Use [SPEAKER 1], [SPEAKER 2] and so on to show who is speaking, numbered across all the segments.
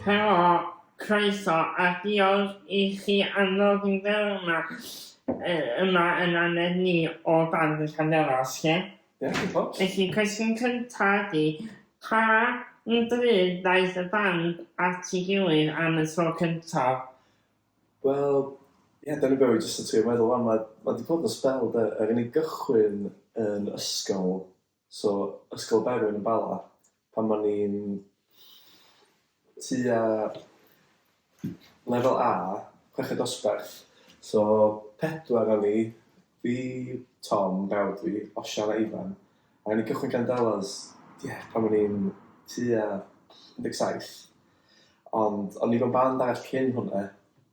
[SPEAKER 1] Helo, croeso a diolch i chi am ddod i'r dderma yma yn anedd ni o dan y camerâu, lle? Felly, cwestiwn cynta ydi, pa un bryd ddaeth y band at ei gilydd am y tro cyntaf? Wel,
[SPEAKER 2] ie, dyna be' o'n i jyst yn trio meddwl wan ma' ma' 'di bod yn sbel 'de er i ni gychwyn yn ysgol so Ysgol Berwyn yn Bala pan o'n i'n tua lefel A, chweched dosbarth so pedwar o'n i Fi yw Tom, brawd fi, Osian a Ifan, a o'n i'n cychwyn Candelas, ie, pan o'n i'n tua 17. Ond o'n i mewn band arall cyn hwnna,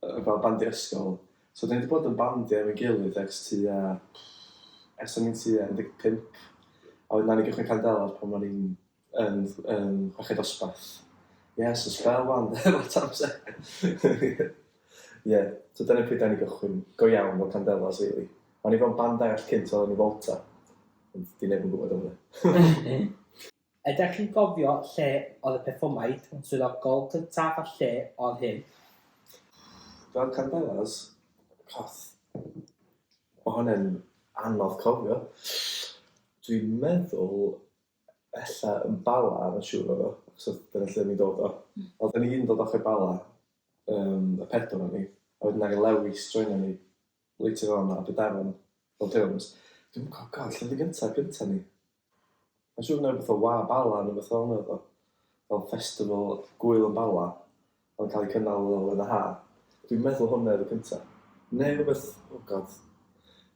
[SPEAKER 2] yy fel band i'r ysgol. So 'dan ni 'di bod yn bandio efo'n gilydd ers tua, ers o'n i'n tua 15. A wedyn nawn ni gychwyn Candelas pan o'n i'n Yn, yn chweched dosbarth. Yes, y spel wan, lot amser. Ie, so dyna pryd da ni gychwyn. Go iawn fel Candelas, really. O'n i fel band arall cynt oedd yn y Volta. Ond di neb yn gwybod am hwnna. Ydych
[SPEAKER 3] chi'n cofio lle oedd y perfformiad swyddogol cyntaf a lle oedd hyn?
[SPEAKER 2] Fel Candelas, coth. Mae hwnna'n anodd cofio. Dwi'n meddwl ella yn Bala, mae'n yn siŵr oedd o, achos oedd dyna lle ni'n dod o. Mm. Oedd ni yn dod ochr Bala, um, y pedwar o'n ni, a wedyn ar Lewis droen ni, later on a Bedaron, Old Hills. Dwi'n gwybod, god, lle oedd y gyntaf, gyntaf ni? Mae'n siŵr na beth o wa Bala, neu beth o'n oedd o. Fel festival gwyl yn Bala, oedd cael ei cynnal yn y ha. Dwi'n meddwl hwnna oedd y cyntaf. Neu rhywbeth, oh god,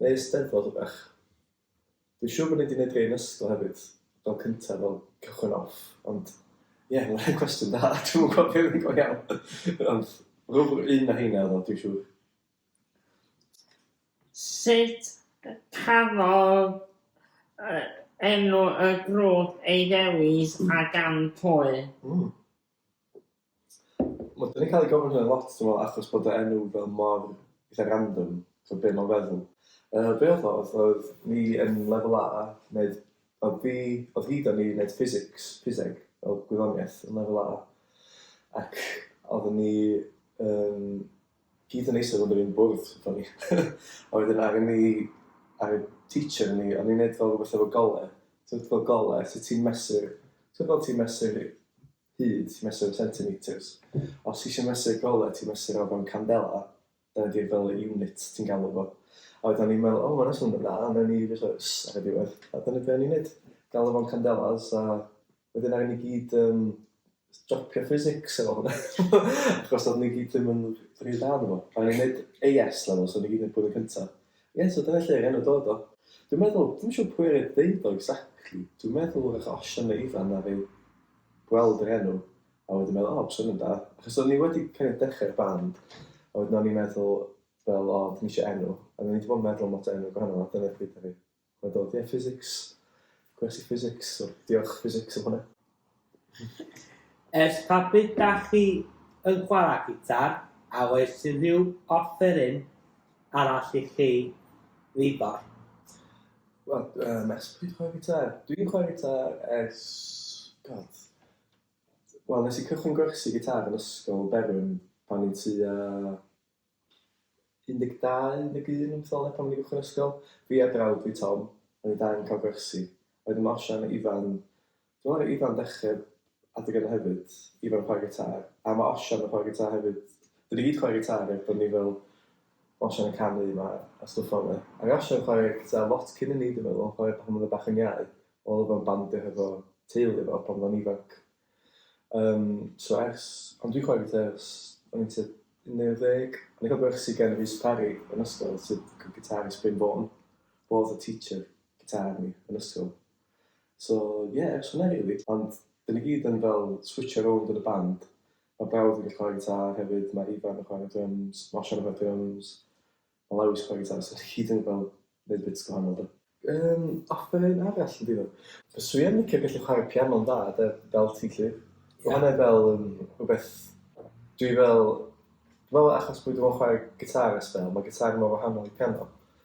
[SPEAKER 2] neu ysteddfod o bech. Dwi'n siŵr bod ni wedi gwneud rhai yn ysgol hefyd, fel cyntaf, fel cychwyn off, ond ie, yeah, mae'n cwestiwn da, dwi'n mwyn gwybod beth yn go iawn. ond rwy'n un na hynna oedd dwi'n siŵr.
[SPEAKER 1] Sut cafodd uh, enw y grŵp ei ddewis a gan pwy? Mm.
[SPEAKER 2] Wel, dyn ni'n cael ei gofyn hynna lot, dwi'n meddwl, achos bod y enw fel mor eitha random, so be mae'n feddwl. Uh, be oedd oedd, oedd ni yn lefel A, wneud, oedd fi, oedd hi da ni wneud physics, physeg, o gwyddoniaeth yn lefel A, ac oedd ni um, gyd yn eisiau fod yn un bwrdd, o'n ni. a wedyn ar ni, ar y teacher ni, o'n ni'n neud fel rhywbeth efo gole, ti'n fel gole, sut ti'n mesur, ti'n fel ti'n mesur hyd, mesur yn centimetres. Os ti eisiau mesur golau, ti'n mesur o fewn candela, dyna di'r fel unit ti'n galw fo. A wedyn ni'n meddwl, o, oh, mae'n eisiau mynd yna, a newn ni ddechrau ys ar y diwedd. A dyna beth ni'n gwneud, galw fo'n candelas, a wedyn ar ni gyd um, dropio physics efo hwnna. Achos oedd ni gyd ddim yn rhy dda efo. A ni'n gwneud AS level, so ni gyd yn bwyd yn cyntaf. Ie, yeah, so dyna lle gan y dod o. Dwi'n meddwl, dwi'n siŵr pwy ar y ddeud o exactly. Dwi'n meddwl o'r achosion na Ifan na fi. gweld yr enw a wedyn meddwl o swnio'n da achos o'n i wedi kind of dechrau'r band a wedyn o'n i'n meddwl fel o dwi eisiau enw a o'n i wedi bod yn meddwl am lot o enw gwahanol a dyna pryd o'n i a dod ie physics gwers i physics so diolch physics am hwnna. Ers
[SPEAKER 3] pa bryd da chi yn chwarae gitar a oes unrhyw offeryn arall i chi ddiddor?
[SPEAKER 2] Wel, um, ers pryd chwarae gitar? Dwi'n chwarae gitar ers... God. Wel, nes i cychwyn gwersi gitar yn ysgol Berwyn pan i'n tu a 12, 11, yn ffilm pan i'n gychwyn ysgol. Fi a brawd fi Tom, o'n i dau yn cael gwersi. Oedd yma osian Ifan Dwi'n meddwl Ifan dechrau adeg yna hefyd, Ifan yn chwarae gitar, a mae Osian yn chwarae gitar hefyd. Dyn ni gyd chwarae gitar er bod ni fel Osian yn canu yma a stwff fel yna. Ac Osian yn chwarae gitar lot cyn i ni dwi'n meddwl, chwarae pan oedd o'n bach yn iau, oedd o'n bandio hefo teulu fo pan oedd o'n ifanc. Um, so ers, ond dwi'n chwarae gitar ers o'n i'n tyd 19, o'n i'n cael gwersi gan Rhys Parry yn ysgol sydd yn gitar i Spring Vaughan, bod y teacher gitar ni yn ysgol. So ie, jyst hwnna rili. Ond 'dyn ni gyd yn fel switsio rownd yn y band. Mae brawd fi'n gallu chwarae gitâr hefyd, mae Ifan yn chwarae dryms, ma' Osian yn chwarae dryms, ma' Lowys yn chwarae gitâr, so ni gyd yn fel neud bits gwahanol 'de. Yym, offeryn arall yn diddor. Fyswn i yn licio gallu chwarae piano'n dda 'de, fel ti 'lly. Ma' hwnna fel yn rwbeth dwi fel, dwi me'wl achos bo' fi 'di bo' yn chwarae gitâr ers sbel, ma' gitâr mor wahanol i piano.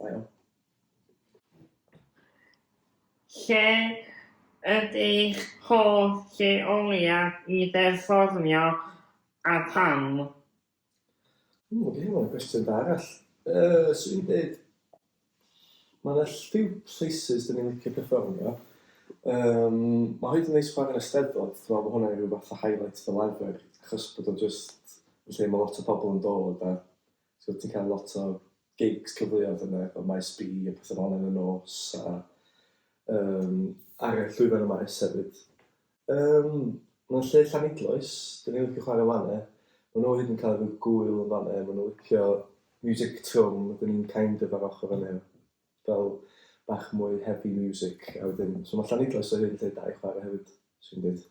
[SPEAKER 2] Da iawn.
[SPEAKER 1] Lle ydych hoff lleoliad i berfformio a pam? Ww,
[SPEAKER 2] mae gen i fod gwestiwn da arall. Uh, so i'n dweud, mae yna lliw places dyn ni'n licio perfformio. Um, mae hyd yn neis chwarae yn y steddfod, dwi'n meddwl bod hwnna'n rhyw fath o highlight fel arfer, achos bod o'n just yn lle mae lot o pobl yn dod a Ti'n gwybod, ti'n cael lot o gigs cyfleoedd yna, fel Maes B a pethau fel yn y nos, a um, ar y llwyfan y maes hefyd. Um, Mae'n lle llanidloes, dyn ni'n licio chwarae fan e. Mae nhw hyd yn cael rhyw gwyl yn fan e, mae nhw licio music trwm, dyn ni'n kind of ar ochr fan e. Fel bach mwy heavy music, a wedyn, so mae llanidloes o hyn lle da i chwarae hefyd, sy'n dweud.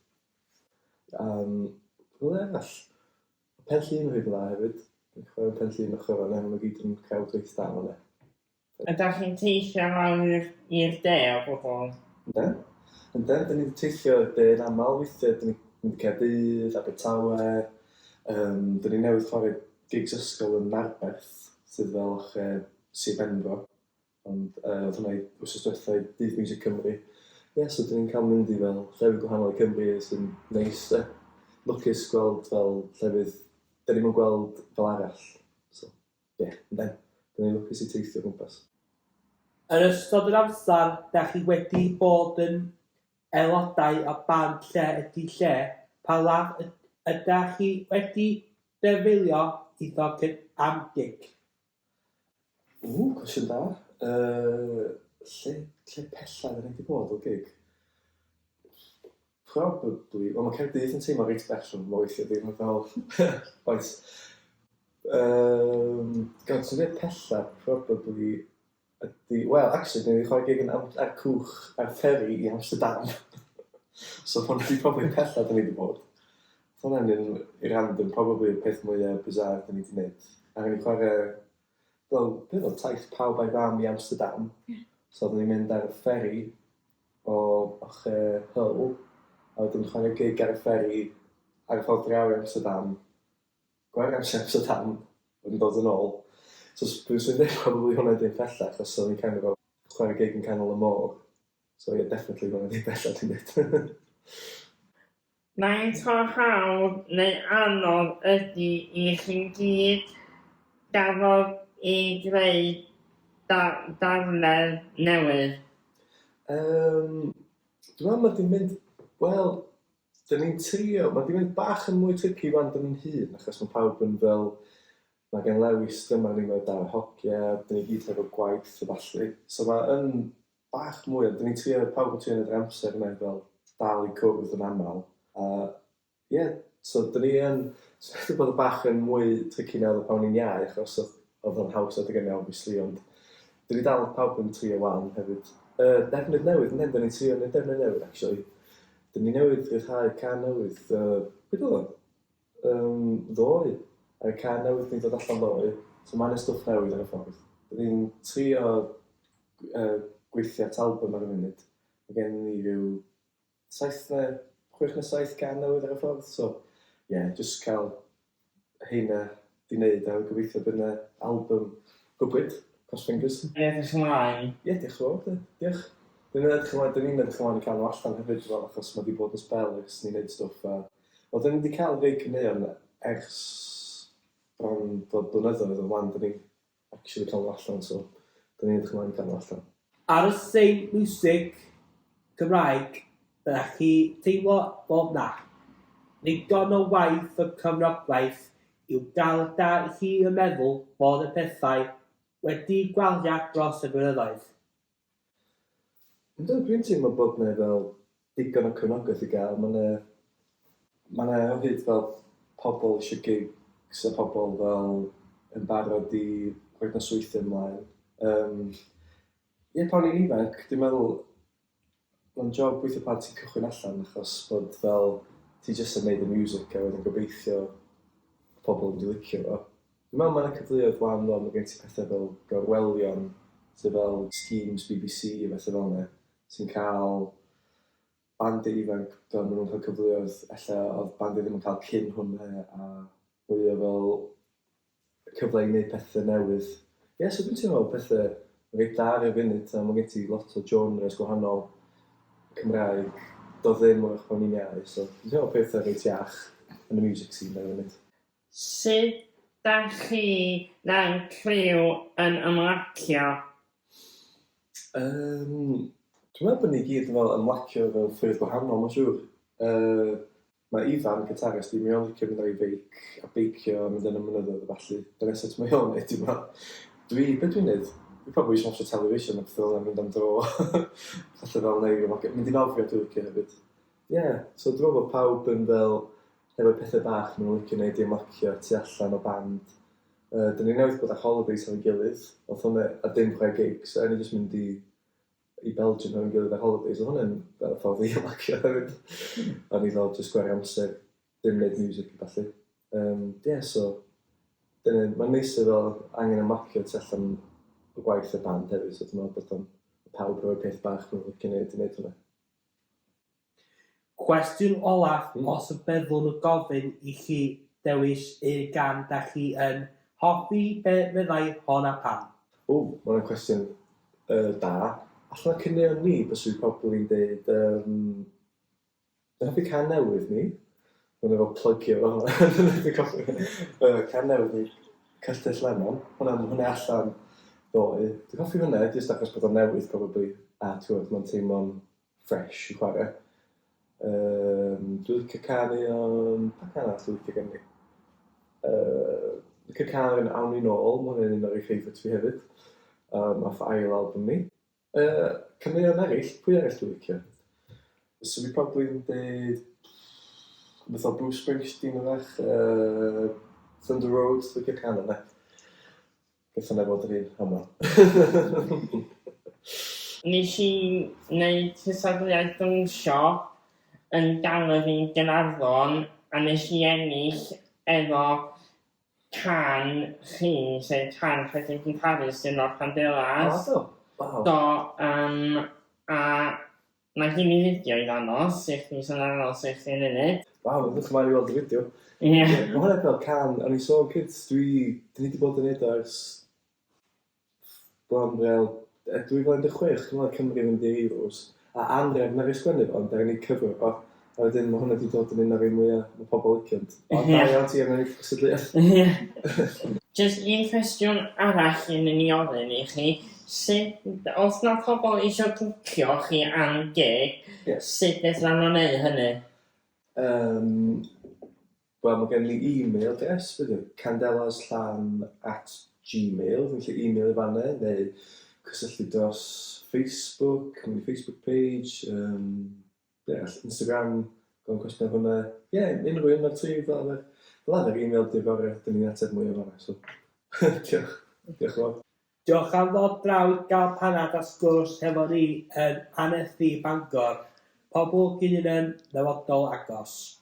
[SPEAKER 2] Um, Rwy'n arall, Mae Pen Llŷn yn rhy dda hefyd. Dwi'n chwarae Pen Llŷn ochr fan hyn, mae gyd yn cael dweith da fan hyn. Ydych chi'n teithio
[SPEAKER 1] lawr i'r de o gwbl? Yndden.
[SPEAKER 2] Yndden, dyn ni'n teithio i'r de yn aml, weithiau dyn ni'n mynd i Caerdydd, Abertawe, um, dyn ni newydd chwarae gigs ysgol yn Narberth, sydd fel ochr Sir Benfro. Ond yy oedd hwnna i wsos dwetha i Dydd Music Cymru. Ie, so dyn ni'n cael mynd i fel llefydd gwahanol i Cymru sy'n neis de. Lwcus gweld fel llefydd dyn ni'm yn gweld fel arall. So, ie, yeah, yn den. Dyn ni'n lwcus i teithio o gwmpas. Yn
[SPEAKER 3] ystod yr amser da chi wedi bod yn aelodau o band Lle Ydi Lle, pa law ydach chi wedi defnyddio iddo am gig? Ww,
[SPEAKER 2] cwestiwn da. Uh, lle, lle pellaf yn wedi bod o gig? Probably, wel mae Cerdydd yn teimlo reit bell o'n mwy lle ddim yn fel... Oes. Um, Gawd, sy'n dweud pellaf, probably Ydy, wel, actually, dwi wedi chwarae gig yn Nant a'r Cwch a'r Fferi i Amsterdam. so hwn ydi probably pella dyn ni wedi bod. So hwnna'n un random, probably y peth mwyaf bizarre dyn ni wedi gwneud. A rwy'n chwarae, wel, beth oedd taith pawb a'i fam i Amsterdam. Yeah. So dyn ni'n mynd ar y fferi o ochr Hull, a wedyn chwarae gig ar y fferi ar y ffordd draw i Amsterdam. Gwag am Siaps a Tan wedi dod yn ôl. So os dwi'n swnio'n deg probably hwnna ydi yn bella achos o'n i'n kind of fel chwarae gig yn canol y môr. So ie definitely hwnna ydi bella dwi'n deud. Faint
[SPEAKER 1] mor hawdd neu anodd ydi i chi'n gyd gafodd i greu darllen newydd? Yym
[SPEAKER 2] dwi'n meddwl ma di mynd wel Dyn ni'n trio, mae 'di mynd bach yn mwy tricky wan dyn ni'n hun, achos mae pawb yn fel, mae gen Lewis dyma ni, mae dau hogia, dyn ni gyd hefo gwaith a ballu. So mae yn bach mwy, ond dyn ni'n trio, pawb yn trio yn yr amser yna i fel dal i cwrdd yn aml. A ie, yeah, so dyn ni yn, so wedi bod yn bach yn mwy tricky nawr o pan ni'n iau, achos oedd o'n haws adeg yna, obviously, ond dyn ni dal pawb yn trio wan hefyd. Uh, defnydd newydd, ynddo, dyn ni'n trio yn y defnydd newydd, actually. Dyn ni newydd ryddhau can newydd, yy, pryd oedd o? Yym, ddoe. Mae can newydd yn dod allan ddoe, so mae yna stwff newydd ar y ffordd. Dyn ni'n trio uh, gweithio at album ar y munud. Mae gen ni rhyw saith neu chwech neu saith gan newydd ar y ffordd, so ie, yeah, jyst cael heina di neud a gobeithio bydd na album gwbwyd, cross fingers. Dwi'n edrych ymlaen.
[SPEAKER 1] Ie diolch yn fawr de.
[SPEAKER 2] Diolch. Dyn ni'n edrych ymlaen, dyn ni'n edrych ymlaen i cael nhw allan hefyd dwi'n meddwl achos ma' di bod yn sbel ers ni'n neud stwff a wel dyn ni di cael rhei caneuon ers bron bod blynyddoedd o flan dyn ni actually cael nhw allan so dan ni'n edrych ymlaen i cael nhw allan. Ar y sei'n
[SPEAKER 3] miwsig Cymraeg byddech chi teimlo bod 'na ddigon o waith y cyfnodwaith i'w gael da i chi yn meddwl bod y pethau wedi gwaliad dros y blynyddoedd. Yndw,
[SPEAKER 2] dwi'n teimlo bod 'na fel digon o cefnogaeth i gael, ma' 'na ma' 'na o hyd fel pobl isio gigs a pobl fel yn barod i roid nosweithie ymlaen. Yym ie pan o'n i'n ifanc dwi'n meddwl Mae'n job weithio pan ti'n cychwyn allan achos bod fel ti jyst yn neud y music a wedyn gobeithio pobl yn dy licio fo. Dwi'n meddwl mae 'na cyfleoedd wan fel ma' gen ti pethau fel gorwelion sydd fel schemes bbc a betha fel 'na sy'n ca'l bandiau ifanc fel ma' nhw'n ca'l cyfleoedd ella odd bandiau ddim yn ca'l cyn hwnna a mwy o fel cyfle i neud pethe newydd. Ie so dwi'n teimlo pethe yn reit dda ar y funud a ma' gen ti lot o genres gwahanol Cymraeg do'dd ddim wrach pan o'n i'n iau so dwi'n teimlo pethe reit iach yn y music scene ar y funud. Sut
[SPEAKER 1] dach chi fel criw yn ymlacio? Yym
[SPEAKER 2] dwi'n meddwl bo' ni gyd yn fel ymlacio mewn ffyrdd gwahanol ma'n siŵr yy Mae Ifan yn cytarist fi, mae o'n licio mynd ar ei feic a beicio a mynd yn y mynyddoedd a ballu. Dyna sut mae o'n neud, dwi'n meddwl. Dwi, be dwi'n neud? Dwi probably eisiau watcha television a pethau fel yna, mynd am dro. Felly fel neu rhywbeth, mynd i nofio dwi'n licio hefyd. Ie, yeah. so dwi'n meddwl bod pawb yn fel, hefo pethau bach maen nhw'n licio neud i ymlacio tu allan o band. Uh, dyn ni newydd bod ar holidays ar ei gilydd, oedd hwnna a dim chwe gigs, a ni jyst mynd i i Belgium efo'n gilydd ar holidays, oedd hwnna'n fel y ffordd i ymlacio hefyd. a ni fel just gwario amser, dim neud music a falle. Um, yeah, so, dyna, mae'n neis i fel angen ymlacio tu allan y gwaith y band hefyd, so dwi'n meddwl bod o'n pawb roi peth bach nhw'n licio neud i neud hwnna.
[SPEAKER 3] Cwestiwn olaf, os y byddwn yn gofyn i chi ddewis un gan da chi yn hoffi, be fyddai hon a pam? Ww, ma hwnna'n cwestiwn
[SPEAKER 2] yy da. Allan o caneuon ni byswn i probably yn deud yym dwi'n hoffi can newydd ni. Ma'n efo plygio fo dwi'n colli fe. Yy can newydd ni Castell Lemon. Hwnna ma' hwnna allan ddoe. Dwi'n hoffi hwnna jyst achos bod o'n newydd probably a t'mod ma'n teimlo'n fresh i chwarae. Um, dwi'n licio canu o'n... Pa can arall dwi'n licio gen i? Uh, licio canu o'n Awn i'n ôl, mae hwnna'n un o'r ei favourites fi hefyd. Um, off ail album ni. Uh, Caneuon eraill, pwy eraill dwi'n licio? So fi probably yn dweud... Beth o Bruce Springsteen yn fach. Uh, Thunder Road, dwi'n licio can yna. Gallwn ei fod yr
[SPEAKER 1] un heno. Nes i wneud cystadleuaeth dawnsio yn galeri Gaernarfon a nes i ennill efo can chi, sef can Rhedeg i Paris yn Los Candelas. O do, waw. Do, yym a Mae hi myn fideo i ddangos i chdi so na'i ddangos i chdi munud. Waw edrych ymlaen i weld
[SPEAKER 2] y fideo. Ie. Ma hwnna
[SPEAKER 1] fel can
[SPEAKER 2] o'n i'n sôn cynt dwi dwi ni di bod yn neud o ers bron fel e- 2016 dwi me'wl Cymru fynd i'r Euros a anref naru sgwennu fo ond naru ni cyfro fo. A wedyn mae hwnna wedi dod yn un o'r rhai mwya mae pobl licio'n. Ond da iawn ti am ennill cystadleuaeth. Ie.
[SPEAKER 1] Jyst un cwestiwn arall yn mynd i ofyn i chi, sut, os mae pobl eisiau bwcio chi am gig, sut fedran nhw wneud hynny? Um,
[SPEAKER 2] Wel, mae gen i e-mail address, bydd yn candelaslan at gmail, fi'n lle e-mail i fanna, neu cysylltu dros Facebook, cymryd Facebook page, um, deall Instagram gofyn cwestiwn hwnna ie unrhyw un o'r tri fel arfer fel arfer email di fory dyn ni'n ateb mwy o fanna so diolch diolch yn fawr. Diolch am ddod
[SPEAKER 3] draw i gael panad a sgwrs hefo ni yn Annerthu Bangor. Pobl
[SPEAKER 2] Gynunen, Dyfodol
[SPEAKER 3] Agos.